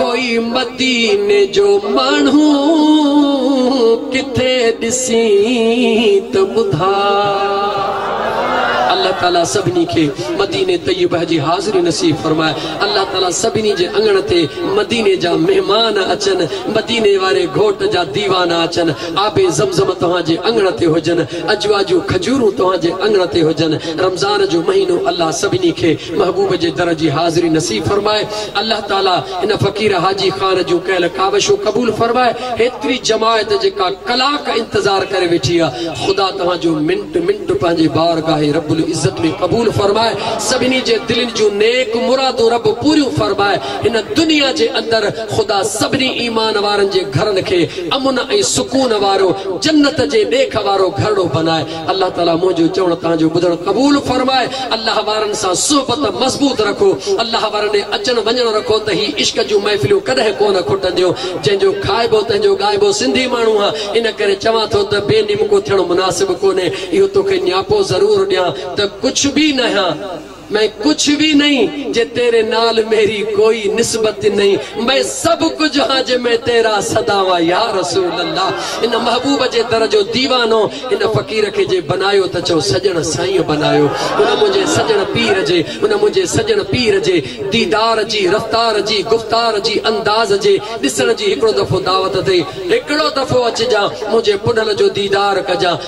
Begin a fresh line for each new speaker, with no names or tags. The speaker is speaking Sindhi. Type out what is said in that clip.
ڪوئي مديني جو ماڻهو ڪٿي ڏسين ته ٻڌاء. الله تعالي سڀني کي مديني طيبه جي حاضري نصيب فرمائي الله تعالي سڀني جي اڱڻ تي مديني جا مهمان اچن مديني واري گهوٽ جا ديوانا اچن آب زمزم توهان جي اڱڻ تي هجن اجوا جون کجورون توهان جي اڱڻ تي هجن رمضان جو مهينو الله سڀني کي محبوب جي در جي حاضري نصيب فرمائي الله تعالي ان فقير حاجي خان جون ڪيل ڪاوشون قبول فرمائي هيتري جماعت جيڪا ڪلاڪ انتظار ڪري ويٺي آ خدا توهان جو منٽ منٽ پنهنجي بارگاهه رب العزت ۾ قبول فرمائي سڀني جي دلين جون نيڪ مرادون رب پوريون فرمائي هن دنيا جي اندر خدا سڀني ايمان وارن جي گهرن کي امن ۽ سڪون وارو جنت جي ڏيک وارو گهرڙو بنائي الله تعالي منهنجو چوڻ توهان جو ٻڌڻ قبول فرمائي الله وارن سان صحبت مضبوط رکو الله وارن ڏي اچڻ وڃڻ رکو ته هي عشق جون محفليون ڪڏهن ڪونه کٽنديون جنهن جو کائبو تنهن جو ڳائبو سنڌي ماڻهو آ ان ڪري چوان ٿو ته بي نمڪو ٿيڻ مناسب ڪونهي اهو توکي نياپو ضرور ڏيان ته ڪجهه به نه هيان مين ڪچھ وي نھين جي تيري نال ميري ڪوئي نسبت نھين مين سڀ ڪجھ ھان جي مين تيرا سدا وا يا رسول الله ان محبوب جي در جو ديوانو ان فقير کي جي بنايو ته چئو سڄڻ سائين بنايو ان منھنجي سڄڻ پير جي ان منھنجي سڄڻ پير جي ديدار جي رفتار جي گفتار جي انداز جي ڏسڻ جي ھڪڙو دفعو دعوت اٿئي ھڪڙو دفعو اچجان منھنجي پنھل جو ديدار ڪجان